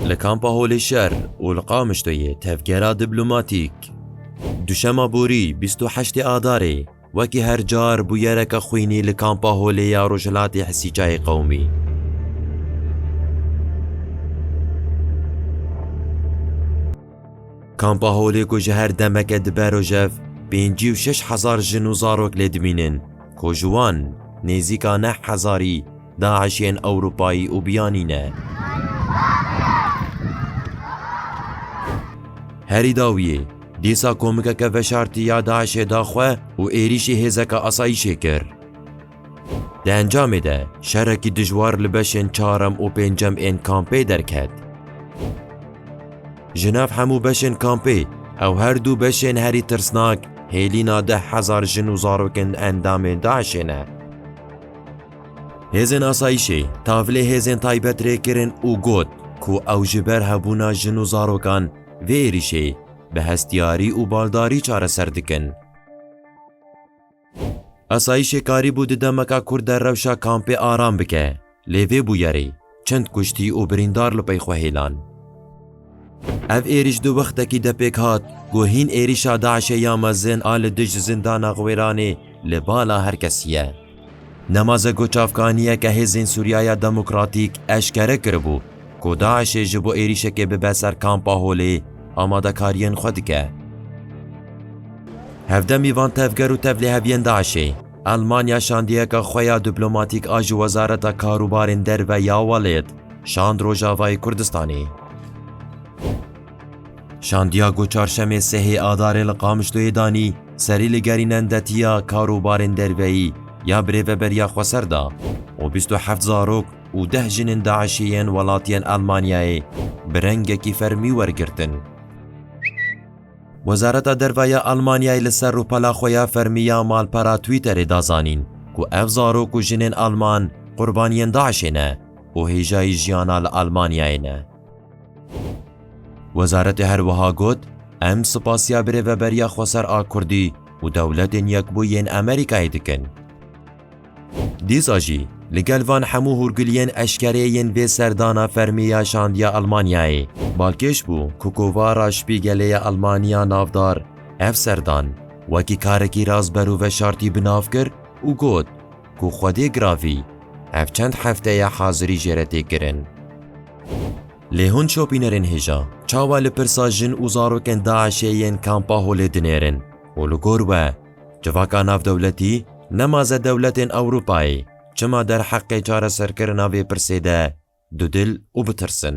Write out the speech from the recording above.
Li Kampa Holê Şer û li Qamişloyê tevgera diplomatîk. Duşema borî bîst û heştê Adarê wekî her car bû yereke xwînî li Kampa Holê ya Rojhilatê Hisîçayê Qewimî. Kampa Holê ku ji her demeke dibe rojev pêncî û şeş hezar jin û zarok lê dimînin ku ji wan nêzîka neh hezarî DAIŞ'yên Ewropayî û Biyanî ne. Herî dawiyê dîsa komikeke veşartî ya DAIŞ'ê da xwe û êrîşî hêzeke asayîşê kir. Di encamê de şerekî dijwar li beşên çarem û pêncem ên kampê derket. Ji nav hemû beşên kampê ew her dû beşên herî tirsnak hêlîna deh hezar jin û zarokên endamên DAIŞê ne. Hêzên asayîşê tavlê hêzên taybet rê kirin û got ku ew ji ber hebûna jin û zarokan vê êrîşê bi hestiyarî û baldarî çareser dikin. Asayîşê karî bû di demeka kûr de rewşa kampê aram bike, lê vê bûyerê çend kuştî û birîndar li pey xwe hêlan. Ev êrîş di wextekî de pêk hat ku hîn êrîşa DAIŞ'ê ya mezin a li dij zindana Xwêranê li bala her kesî ye. Nemaze ku çavkaniyeke hêzên Sûriyaya Demokratîk eşkere kiribû ku DAIŞ'ê ji bo êrîşekê bibe ser Kampa Holê amadekariyên xwe dike. Hevdeh mîvan tevger û tevliheviyên DAIŞ'ê Elmanya şandiyeke xwe ya diplomatîk a ji Wezareta Karûbarên Derve ya welêt şand Rojavayê Kurdistanê. Şandiago çarşemê sehê Adarê li Qamişloyê danî serî li gerînendetiya karûbarên derveyî ya birêveberiya Xweser da û bîst û heft zarok û deh jinên DAIŞ'ê yên welatiyên Elmanyayê bi rengekî fermî wergirtin. Wezareta Derve ya Elmanyayê li ser rûpela xwe ya fermî ya malpera Twitterê da zanîn ku ev zarok û jinên Elman qurbaniyên DAIŞ'ê ne û hêjayî jiyana li Elmanyayê ne. Wezaretê her wiha got, Em spasiya birêveberiya xweser a Kurdî û dewletên Yekbûyî yên Amerîkayê dikin. Dîsa jî li gel van hemû hûrguliyên eşkereyê yên vê serdana fermî ya şandiya Elmanyayê, balkêş bû ku kovara Spîgelê ya Elmaniya navdar ev serdan wekî karekî rast berû veşartî bi nav kir û got, ku Xwedê Gravî ev çend hefte ye hazirî jê re tê kirin. Lê hûn şopînerên hêja çawa li pirsa jin û zarokên DAIŞ'ê yên Kampa Holê dinêrin û li gor we civaka navdewletî nemaze dewletên Ewropayê çima derheqê çareserkirina vê pirsê de dudil û bitirsin.